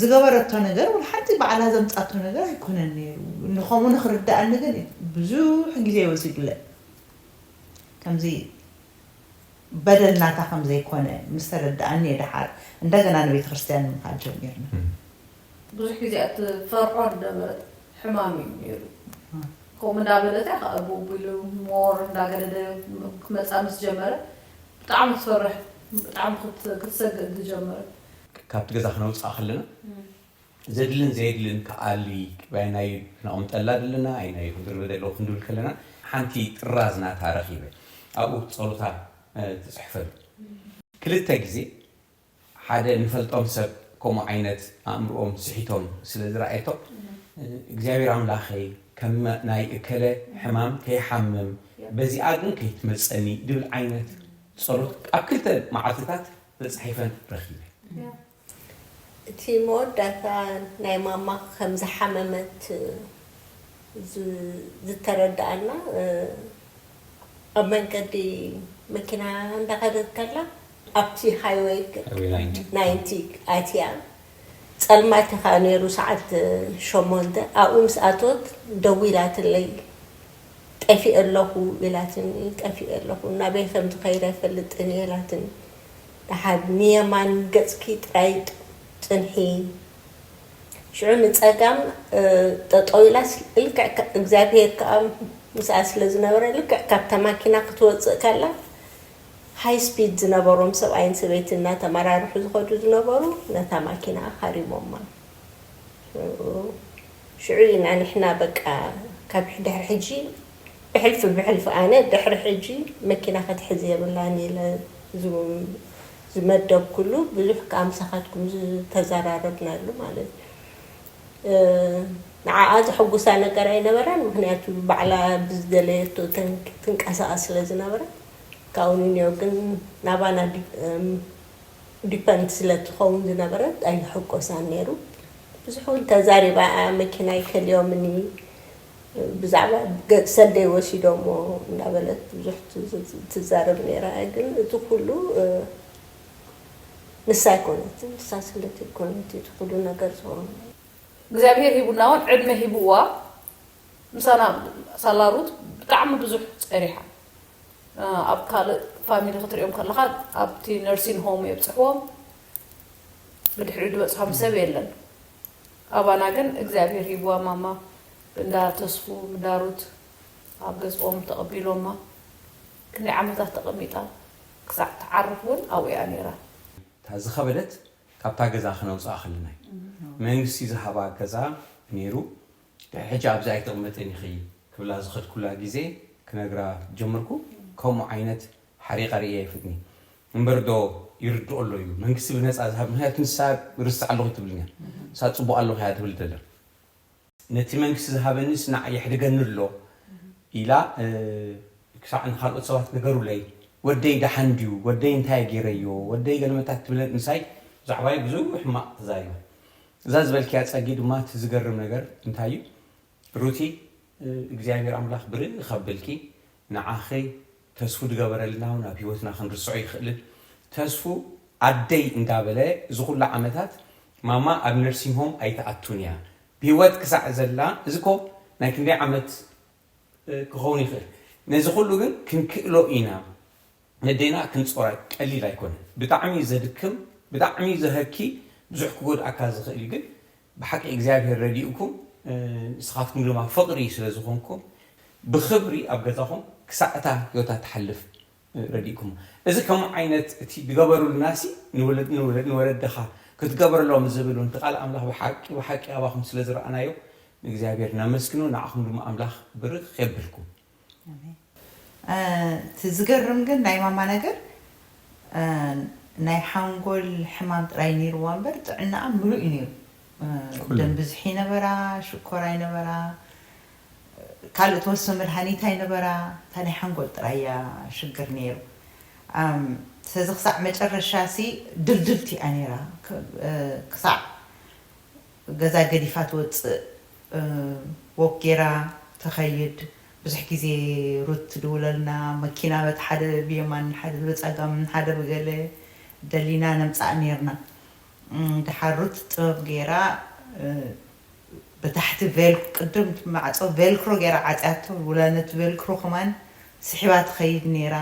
ዝገበረቶ ነገር ወላ ሓንቲ ባዕላ ዘምጻቶ ነገር ኣይኮነን ኔሩ ንከምኡ ንክርደኣኒ ግን ብዙሕ ግዜ ወሲዱለይ ከምዚ በደል ናታ ከም ዘይኮነ ምስ ተረደኣኒ እየ ደሓር እንደገና ንቤተክርስትያን ምካድ ጀሚርና። ብዙሕ ግዜ እትፈርሖ ዝነበረት ሕማም እዩ ኔሩ ከምኡ እንዳበለት እያ ከኣ ቡብ ኢሉ ሞር እንዳገደደ ክመጻ ምስ ጀመረ ብጣዕሚ ትፈርሕ ብጣዕሚ ክትሰግእ ዝጀመረት ካብቲ ገዛ ክነውጽኣ ከለና ዘድልን ዘየድልን ክኣሊ ኣየናዩ ክነቕምጠላ ደለና ኣየናዩ ክንድርበ ደለዎ ክንድብል ከለና ሓንቲ ጥራዝ ናታ ረኺበ ኣብኡ ጸሎታ ትጽሕፈሉ ክልተ ግዜ ሓደ ንፈልጦም ሰብ ከምኡ ዓይነት ኣእምርኦም ስሒቶም ስለ ዝረኣየቶም እግዚኣብሔር ኣምላኸይ ከም ናይ እከለ ሕማም ከይሓምም በዚኣ ግን ከይትመጸኒ ድብል ዓይነት ጸሎት ኣብ ክልተ መዓልትታት ተጻሒፈን ረኺበ። እቲ መወዳእታ ናይ ማማ ከም ዝሓመመት ዝተረድኣና ኣብ መንገዲ መኪና እንዳኸደት ከላ ኣብቲ ሃይወይ ናይንቲ ኣትያ ጸልማት እዩ ከኣ ነይሩ ሰዓት ሸሞንተ ኣብኡ ምስ ኣተወት ደዊላትለይ ጠፊኤ ኣለኹ ኢላትኒ፣ ጠፊኤ ኣለኹ፣ ናበይ ከም ዝኸይድ ኣይፈልጥን እየ ኢላትኒ፣ ደሓር ንየማን ገጽኪ ጥራይ ጽንሒ፣ ሽዑ ንጸጋም ጠጠው ኢላስ፣ ልክዕ እግዚኣብሄር ከኣ ምስኣ ስለ ዝነበረ፣ ልክዕ ካብታ ማኪና ክትወጽእ ከላ፣ ሃይ ስፒድ ዝነበሮም ሰብኣይን ሰበይትን እናተመራርሑ ዝኸዱ ዝነበሩ ነታ ማኪና ሃሪሞማ። ሽዑ። ሽዑ ኢና ንሕና በቃ ካብ ድሕሪ ሕጂ ብሕልፊ ብሕልፊ ኣነ ድሕሪ ሕጂ መኪና ክትሕዝ የብላን ኢለ ዝመደብኩሉ ብዙሕ ከኣ ምሳኻትኩም ዝተዘራረብናሉ ማለት እዩ ንዓኣ ዘሐጉሳ ነገር ኣይነበረን ምክንያቱ ባዕላ ብዝደለየቶ ትንቀሳቐስ ስለ ዝነበረት ካብኡ ንንዮ ግን ናባና ዲፐንድ ስለ ትኸውን ዝነበረት ኣይሕጎሳን ነይሩ ብዙሕ ውን ተዛሪባ ኣያ መኪናይ ከሊኦምኒ ብዛዕባ ገጽ ሰደይ ወሲዶሞ እንዳበለት ብዙሕ ትዛረብ ነይራ እያ ግን እቲ ኩሉ ንሳ ኣይኮነትን ንሳ ስለ ተይኮነት እዩ እቲ ኩሉ ነገር ዝኾነ እግዚኣብሄር ሂቡና ውን ዕድመ ሂብዋ ምሳና ሳላ ሩት ብጣዕሚ ብዙሕ ጸኒሓ። ኣብ ካልእ ፋሚሊ ክትሪኦም ከለካ ኣብቲ ነርሲን ሆም የብጽሕዎም ብድሕሪኡ ድበጽሖም ሰብ የለን ኣባና ግን እግዚኣብሄር ሂብዋ ማማ እንዳ ተስፉ እንዳ ሩት ኣብ ገዝኦም ተቀቢሎማ ክንደይ ዓመታት ተቀሚጣ ክሳዕ ትዓርፍ ውን ኣብኡ እያ ኔራ። እታ ዝኸበደት ካብታ ገዛ ክነውጽኣ ከለና እዩ። መንግስቲ ዝሃባ ገዛ ኔሩ ናይ ሕጂ ኣብዚ ኣይትቕመጥን ኢኺ ክብላ ዝኸድኩላ ግዜ ክነግራ ጀመርኩ ከምኡ ዓይነት ሓሪቐ ርእየ ኣይፍትን'የ እምበር ዶ ይርድኦ ኣሎ እዩ መንግስቲ ብነጻ ዝሃብ ምኽንያቱ ንሳ ርስዕ ኣለኹ ኣይትብልን እያ ንሳ ጽቡቕ ኣለኹ እያ ትብል ዘላ ነቲ መንግስቲ ዝሃበኒስ ንዓይ የሕድገኒ ኣሎ ኢላ ክሳዕ ንኻልኦት ሰባት ንገሩለይ ወደይ ደሓን ድዩ ወደይ እንታይ ገይረዮ ወደይ ገለመታ ክትብለን ምሳይ ብዛዕባይ ብዙሕ ሕማቕ ተዛሪባ እዛ ዝበልክያ ጸጊ ድማ እቲ ዝገርም ነገር እንታይ እዩ ሩቲ እግዚኣብሔር ኣምላኽ ብርክ ኣብልኪ ንዓኺ ተስፉ ድገበረልና ውን ኣብ ሂወትና ክንርስዖ ኣይክእልን ተስፉ ኣደይ እንዳበለ እዚ ኩሉ ዓመታት ማማ ኣብ ነርሲንግ ሆም ኣይትኣቱን እያ ብሂወት ክሳዕ ዘላ እዚ እኮ ናይ ክንደይ ዓመት ክኸውን ይኽእል ነዚ ኩሉ ግን ክንክእሎ ኢና ነዴና ክንጾራ ቀሊል ኣይኮነን ብጣዕሚ እዩ ዘድክም ብጣዕሚ እዩ ዘሀኪ ብዙሕ ክጎድኣካ ዝኽእል እዩ ግን ብሓቂ እግዚኣብሔር ረዲኡኩም ንስኻትኩም ድማ ፍቕሪ ስለ ዝኾንኩም ብኽብሪ ኣብ ገዛኹም ክሳዕ እታ ህይወታ ትሓልፍ ረዲእኩሞ እዚ ከምኡ ዓይነት እቲ ድገበሩልናሲ ንወለድኻ ክትገብረሎም ዝብል እውን እቲ ቃል ኣምላኽ ብሓቂ ብሓቂ ኣባኹም ስለ ዝረኣናዮ ንእግዚኣብሔር ነመስግኖ ንዓኹም ድማ ኣምላኽ ብርኽ የብልኩም። ኣሜን እቲ ዝገርም ግን ናይ ማማ ነገር ናይ ሓንጎል ሕማም ጥራይ ኔርዋ እምበር ጥዕናኣ ምሉእ እዩ ኔሩ ኩሉ ደም ብዝሒ ነበራ ሽኮር ኣይነበራ ካልእ ትወስዶ መድሃኒት ኣይነበራ እታ ናይ ሓንጎል ጥራይ እያ ሽግር ኔሩ ስለዚ ክሳዕ መጨረሻ ሲ ድልድልቲ እያ ኔራ ክሳዕ ገዛ ገዲፋ ትወጽእ ዎክ ጌራ ትኸይድ ብዙሕ ግዜ ሩት ትድውለልና መኪና በቲ ሓደ ብየማን ሓደ ብጸጋም ሓደ ብገለ ደሊና ነምጽኣ ኔርና ደሓር ሩት ጥበብ ጌራ ብታሕቲ ቬልክ ቅድም እቲ ማዕጾ ቬልክሮ ጌራ ዓጽያቶ ወላ ነቲ ቬልክሮ ከማን ስሒባ ትኸይድ ኔራ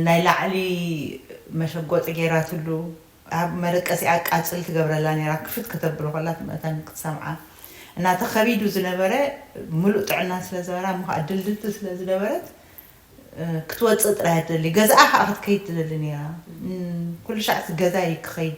ናይ ላዕሊ መሸጎጢ ጌራትሉ ኣብ መደቀሲኣ ቃጽል ትገብረላ ኔራ ክፍት ከተብሎ ከላ ትመታን ክትሰምዓ እና እቲ ከቢዱ ዝነበረ ምሉእ ጥዕና ስለ ዝበራ እሞ ከኣ ድልድልቲ ስለ ዝነበረት ክትወጽእ ጥራይ እያ ትደሊ ገዛኣ ከኣ ክትከይድ ትደሊ ኔራ ኩልሻዕ እቲ ገዛይ ክኸይድ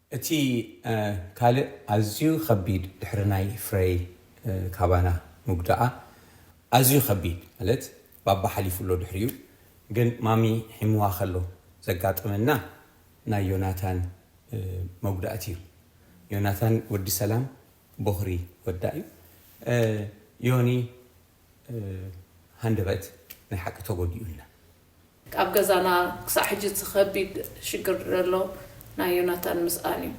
እቲ ካልእ ኣዝዩ ከቢድ ድሕሪ ናይ ፍረይ ካባና ምጉዳኣ ኣዝዩ ከቢድ ማለት ባባ ሓሊፉ ኣሎ ድሕሪኡ ግን ማሚ ሒምዋ ከሎ ዘጋጠመና ናይ ዮናታን መጉዳእቲ እዩ ዮናታን ወዲ ሰላም ቦኽሪ ወዳ እዩ ዮኒ ሃንደበት ናይ ሓቂ ተጎዲኡልና። ኣብ ገዛና ክሳዕ ሕጂ እቲ ከቢድ ሽግር ዘሎ ናይ ዮናታን ምስኣን እዩ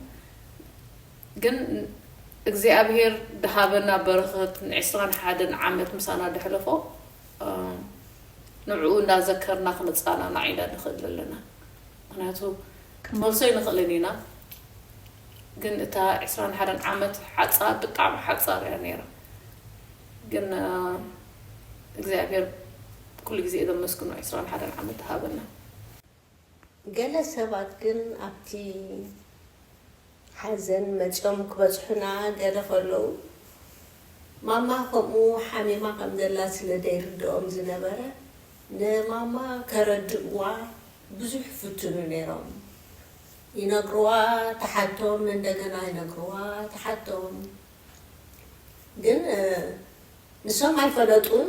ግን እግዚኣብሄር ድሃበና በረኸት ን ዕስራን ሓደን ዓመት ምሳና ደሕለፎ ንዕኡ እንዳዘከርና ክንጻናናዕ ኢና ንኽእል ዘለና ምኽንያቱ ክንመልሶ ኣይንኽእልን ኢና ግን እታ ዕስራን ሓደን ዓመት ሓጻር ብጣዕሚ ሓጻር እያ ኔራ። ግን እግዚኣብሔር ኩሉ ግዜ ዘመስግኖ ዕስራን ሓደን ዓመት ይሃበና። ገለ ሰባት ግን ኣብቲ ሓዘን መጽዮም ክበጽሑና ገለ ከለዉ ማማ ከምኡ ሓሚማ ከም ዘላ ስለ ደይርድኦም ዝነበረ ንማማ ከረድእዋ ብዙሕ ይፍትኑ ነይሮም ይነግርዋ ትሓቶም እንደገና ይነግርዋ ትሓቶም ግን ንሶም ኣይፈለጡን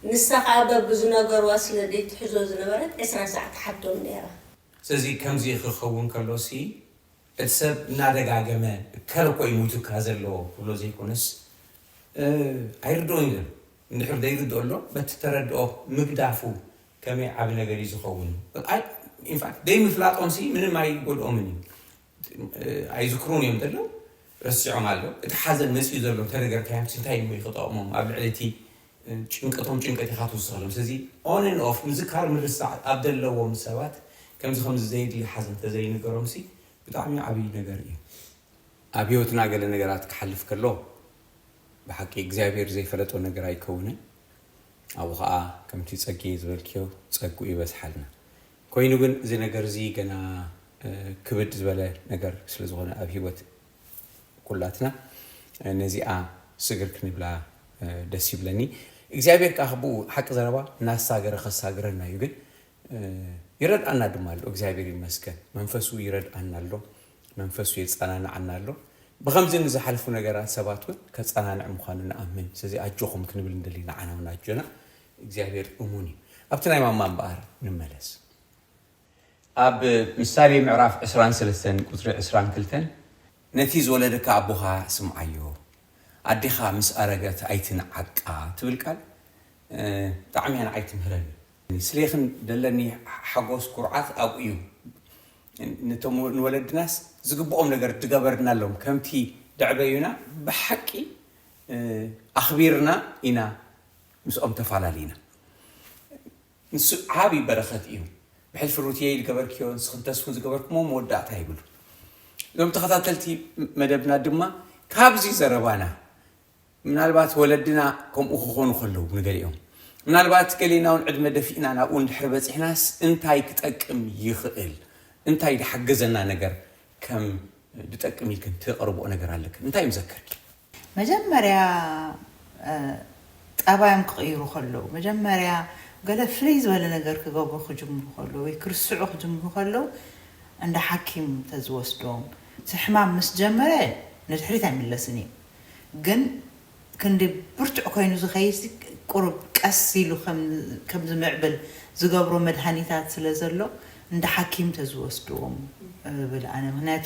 ንሳ ከኣ በብዝነገርዋ ስለ ደይትሕዞ ዝነበረት ዕስራ ሳዕ ትሓቶም ነይራ። ስለዚ ከምዚ ክኸውን ከሎሲ እቲ ሰብ እናደጋገመ እከለ እኮ እዩ ሞይቱካ ዘሎ ክብሎ ዘይኮነስ ኣይርድኦን እዩ እንድሕር ዘይርድኦ ኣሎ በቲ እተረድኦ ምግዳፉ ከመይ ዓቢ ነገር እዩ ዝኸውን። ኢንፋክት ደይምፍላጦምሲ ምንም ኣይጎድኦምን እዩ ኣይዝክሩን እዮም ዘለዉ ረሲዖም ኣለዉ እቲ ሓዘን መጺኡ ዘሎ እንተነገርካዮምስ እንታይ እሞ እዩ ክጠቕሞም ኣብ ልዕሊ እቲ ጭንቀቶም ጭንቀት ኢኻ ትውስኸሎም ስለዚ on and off ምዝካር ምርሳዕ ኣብ ዘለዎም ሰባት ከምዚ ከምዚ ዘየድሊ ሓዘን እንተዘይንገሮምሲ ብጣዕሚ ዓብዪ ነገር እዩ ኣብ ህይወትና ገለ ነገራት ክሓልፍ ከሎ ብሓቂ እግዚኣብሔር ዘይፈለጦ ነገር ኣይከውንን ኣብኡ ከዓ ከምቲ ጸጌ ዝበልክዮ ጸግኡ ይበዝሓልና ኮይኑ ግን እዚ ነገር እዚ ገና ክብድ ዝበለ ነገር ስለ ዝኾነ ኣብ ሂወት ኩላትና ነዚኣ ስግር ክንብላ ደስ ይብለኒ። እግዚኣብሔር ከኣ ብኡ ሓቂ ዘረባ እናሳገረ ከሳግረና እዩ ግን ይረድኣና ድማ ኣሎ እግዚኣብሔር ይመስገን መንፈሱ ይረድኣና ኣሎ መንፈሱ የጸናንዓና ኣሎ ብኸምዚ ንዝሓልፉ ነገራት ሰባት እውን ከጸናንዕ ምዃኑ ንኣምን ስለዚ ኣጆኹም ክንብል ንደሊ ንዓና እውን ኣጆና እግዚኣብሔር እሙን እዩ ኣብቲ ናይ ማማ እምበኣር ንመለስ ኣብ ምሳሌ ምዕራፍ ዕስራን ሰለስተን ቁጽሪ ዕስራን ክልተን ነቲ ዝወለደካ ኣቦኻ ስምዓዮ ኣዴኻ ምስ ኣረገት ኣይትንዓቃ ትብል ቃል ብጣዕሚ እያ ንዓይ ትምህረኒ ስሌክን ደለኒ ሓጎስ ኩርዓት ኣብኡ እዩ ንቶም ንወለድናስ ዝግብኦም ነገር ድገበርናሎም ከምቲ ደዕበዩና ብሓቂ ኣኽቢርና ኢና ምስኦም ተፋላሊና ንሱ ዓቢ በረኸት እዩ ብሕልፊ ሩትየይ ልገበርክዮ ንስኽን ተስፉን ዝገበርክሞ መወዳእታ ይብሉ እዞም ተኸታተልቲ መደብና ድማ ካብዚ ዘረባና ምናልባት ወለድና ከምኡ ክኾኑ ከለዉ ንገሊኦም ምናልባት ገሌና እውን ዕድመ ደፊእና ናብኡ እንድሕሪ በፂሕናስ እንታይ ክጠቅም ይኽእል እንታይ ድሓገዘና ነገር ከም ድጠቅም ኢልክን ትቕርብኦ ነገር ኣለክን እንታይ እዮም ዘከርኪ መጀመርያ ጠባዮም ክቕይሩ ከለዉ፣ መጀመርያ ገለ ፍልይ ዝበለ ነገር ክገብሩ ክጅምሩ ከለዉ ወይ ክርስዑ ክጅምሩ ከለዉ እንዳ ሓኪም ተዝወስዶም። እቲ ሕማም ምስ ጀመረ ንድሕሪት ኣይምለስን እዩ። ግን ክንዲ ብርቱዕ ኮይኑ ዝኸይድሲ ቁሩብ ቀስ ኢሉ ከም ዝምዕብል ዝገብሮ መድሃኒታት ስለ ዘሎ እንዳ ሓኪም ተዝወስዶም እብል ኣነ። ምኽንያቱ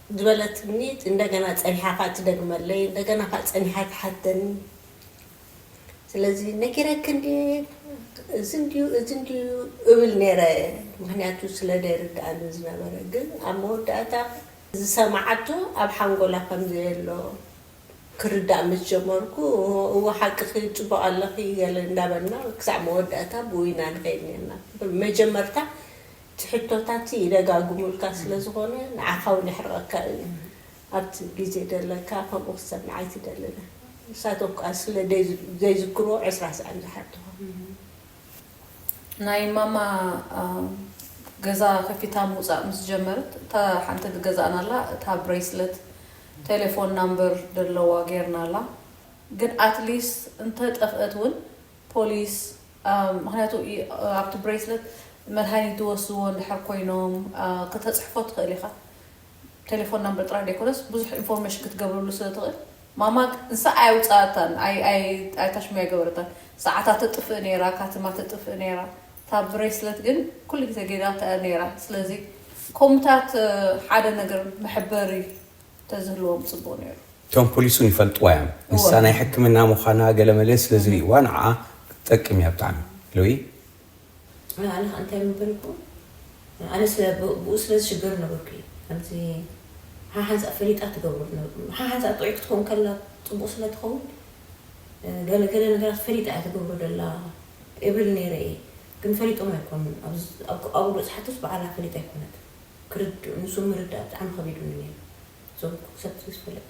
ዝበለትኒ እንደገና ጸኒሓ ከኣ ትደግመለይ እንደገና ከኣ ጸኒሓ ትሓተኒ ስለዚ ነጊረኪ እንድየ እዚ እንድዩ እዚ እንድዩ እብል ኔረ ምክንያቱ ስለ ዘይርድኣኒ ዝነበረ ግን ኣብ መወዳእታ ዝሰማዓቶ ኣብ ሓንጎላ ከም ዘየሎ ክርዳእ ምስ ጀመርኩ እወ ሓቅኪ ጽቡቅ ኣለኪ ገለ እንዳበልና ክሳዕ መወዳእታ ብኡ ኢና ንከይድ ኔርና መጀመርታ እቲ ሕቶታት ይደጋግሙልካ ስለ ዝኾነ ንዓኻ ውን የሕርቐካ እዩ ኣብቲ ግዜ ደለካ ከምኡ ክትሰምዕ ኣይትደልን ንሳቶም ክኣ ስለ ዘይዝክርዎ ዕስራ ሳዕ እዮም ዝሓቱኻ። ናይ ማማ ገዛ ከፊታ ምውጻእ ምስ ጀመረት እታ ሓንቲ ዝገዛእናላ እታ ብሬስለት ቴሌፎን ናምበር ደለዋ ጌርናላ ግን ኣትሊስት እንተ ጠፍእት ውን ፖሊስ ምክንያቱ ኣብቲ ብሬስለት መድሃኒት ዝወስድዎ እንድሕር ኮይኖም ክተጽሕፎ ትክእል ኢካ ቴሌፎን ናምበር ጥራይ ደይኮነስ ብዙሕ ኢንፎርሜሽን ክትገብረሉ ስለ ትክእል ማማ ንሳ ኣየውጻኣታን ኣይታሽሙይ ኣይገበረታን ሰዓታ ተጥፍእ ነይራ ካትማ ተጥፍእ ነይራ እታ ብሬስለት ግን ኩሉ ግዜ ገይራታ እያ ነይራ ስለዚ ኮምታት ሓደ ነገር መሕበሪ ተዝህልዎም ጽቡቅ ነይሩ። እቶም ፖሊስ ውን ይፈልጥዋ እዮም ንሳ ናይ ሕክምና ምዃና ገለ መለ ስለ ዝርእይዋ ንዓኣ ክትጠቅም እያ ብጣዕሚ ሉይ። ኣነ ከኣ እንታይ ምበልኩ ኣነ ስለ ብኡ ስለ ዝሽገር ነበርኩ እየ ከምዚ ሓሓንሳእ ፈሊጣ ትገብሮ ዝነበርኩ ሓሓንሳእ ጥዑይ ክትከውን ከላ ጽቡቅ ስለ ትኸውን ገለ ገለ ነገራት ፈሊጣ እያ ትገብሮ ዘላ እብል ነይረ እየ ግን ፈሊጦም ኣይኮኑን ኣብ ኣብ ኣብኡ ዝሓቱስ ብዓላ ፈሊጣ ኣይኮነትን ክርድኡ ንሱ ምርዳእ ብጣዕሚ ከቢዱኒ ነይሩ እዞም ሰብ እዚ ዝፈለጡ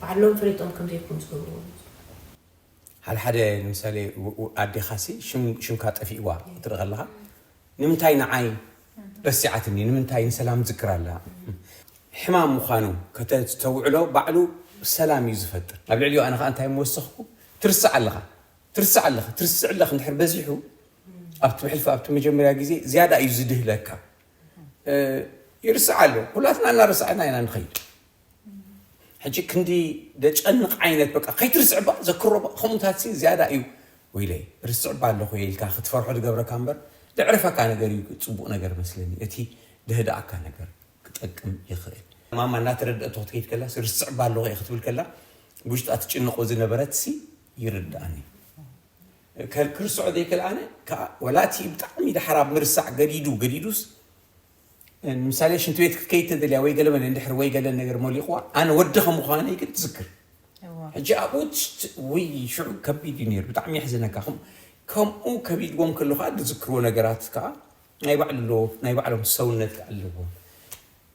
ባዕሎም ፈሊጦም ከምዘይኮኑ ዝገብርዎ ዝነበሩ። ሓደሓደ ንምሳሌ ኣዴኻ ሲ ሽምካ ጠፊእዋ ክትርኢ ከለኻ ንምንታይ ንዓይ ረሲዓትኒ ንምንታይ ንሰላም ትዝክር ኣላ ሕማም ምዃኑ ከተስተውዕሎ ባዕሉ ሰላም እዩ ዝፈጥር ኣብ ልዕሊኡ ኣነ ከኣ እንታይ ምወሰኽኩ ትርስዕ ኣለኻ ትርስዕ ኣለኺ ትርስዕ ኣለኺ እንድሕር በዚሑ ኣብቲ ብሕልፊ ኣብቲ መጀመርያ ግዜ ዝያዳ እዩ ዝድህለካ ይርስዕ ኣሎ ኩላትና እናረሳዕና ኢና ንኸይድ ሕጂ ክንዲ ደጨንቕ ዓይነት በቃ ከይትርስዕ ባ ዘክሮ ባ ከምኡታት ሲ ዝያዳ እዩ ወይለይ ርስዕ ባ ኣለኹ ኢልካ ክትፈርሖ ዝገብረካ እምበር ዘዕርፈካ ነገር እዩ ፅቡቕ ነገር መስለኒ እቲ ደህድኣካ ነገር ክጠቅም ይኽእል ማማ እናተረድአቶ ክትከይድ ከላ ርስዕ ባ ኣለኹ እየ ክትብል ከላ ውሽጣ ትጭንቆ ዝነበረት ሲ ይርድኣኒ እከ ክርስዖ ዘይክል ኣነ ከኣ ወላ እቲ ብጣዕሚ ዳሕር ኣብ ምርሳዕ ገዲዱ ገዲዱስ ንምሳሌ ሽንቲ ቤት ክትከይድ ተደልያ ወይ ገለ በለ እንድሕር ወይ ገለ ነገር ሞሊቕዋ ኣነ ወዲ ከም ምዃነይ ግን ትዝክር ሕጂ ኣብኡ ውይ ሽዑ ከቢድ እዩ ነይሩ ብጣዕሚ የሕዝነካ ከምኡ ከቢድዎም ከሎ ከዓ ዝዝክርዎ ነገራት ከዓ ናይ ባዕሉ ናይ ባዕሎም ሰውነት ኣለዎም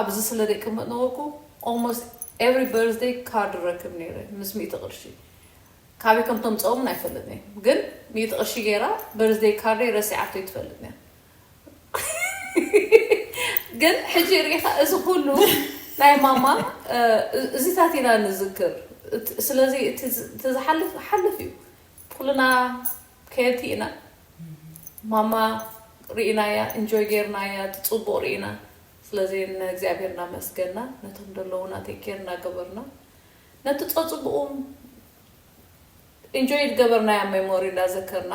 ኣብዚ ስለ ዘይቅመጥ ነበርኩ almost every birthday card እረክብ ነይረ ምስ ሚእቲ ቅርሺ ካበይ ከም ተምጸኦ ውን ኣይፈልጥን'የ ግን ሚእቲ ቅርሺ ገይራ birthday ካርደይ ረሲዓቶ ኣይትፈልጥን'ያ ግን ሕጂ ርኢኻ እዚ ኩሉ ናይ ማማ እዚታት ኢና ንዝክር ስለዚ እቲ ዝሓልፍ ሓልፍ እዩ ኩልና ከየቲ ኢና ማማ ሪኢናያ ኢንጆይ ገይርናያ እቲ ጹቡቅ ሪኢና ስለዚ ን እግዚኣብሄር ናመስገና ነቶም ደለዉና ቴክ ኬር ናገበርና ነቲ ጸጹቡቁ ኢንጆይ ድገበርናያ ሜሞሪ እንዳዘከርና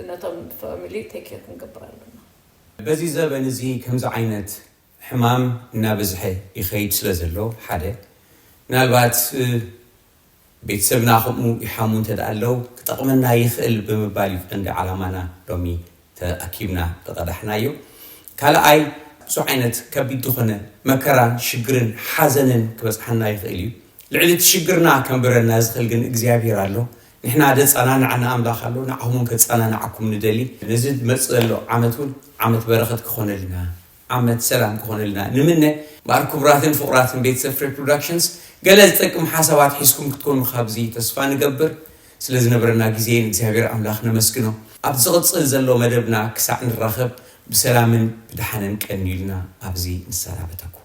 ነቶም ፋሚሊ ቴክ ኬር ክንገብር ኣለና። በዚ ዘበን እዚ ከምዚ ዓይነት ሕማም እናበዝሐ ይኸይድ ስለ ዘሎ ሓደ ምናልባት ቤተሰብና ከምኡ ይሓሙ እንተድኣ ኣለው ክጠቕመና ይኽእል ብምባል እዩ ቀንዲ ዓላማና ሎሚ ተኣኪብና ዝቐዳሕናዮ። ካልኣይ ብዙሕ ዓይነት ከቢድ ዝኾነ መከራን ሽግርን ሓዘንን ክበጽሓና ይኽእል እዩ። ልዕሊ እቲ ሽግርና ከንብረና ዝኽእል ግን እግዚኣብሔር ኣሎ። ንሕና ዘጸናንዓና ኣምላኽ ኣሎ፣ ንዓኹም እውን ከጸናንዓኩም ንደሊ። ነዚ ዝመጽእ ዘሎ ዓመት እውን ዓመት በረኸት ክኾነልና ዓመት ሰላም ክኾነልና ንምነ። እምበኣር ክቡራትን ፍቑራትን ቤተሰብ ፍሬ ፕሮዳክሽንስ ገለ ዝጠቅም ሓሳባት ሒዝኩም ክትኮኑ ካብዚ ተስፋ ንገብር። ስለ ዝነበረና ግዜ ንእግዚኣብሔር ኣምላኽ ነመስግኖ። ኣብ ዝቕጽል ዘሎ መደብና ክሳዕ ንራኸብ ብሰላምን ብደሓንን ቀንዩልና ኣብዚ ንሰናበተኩም።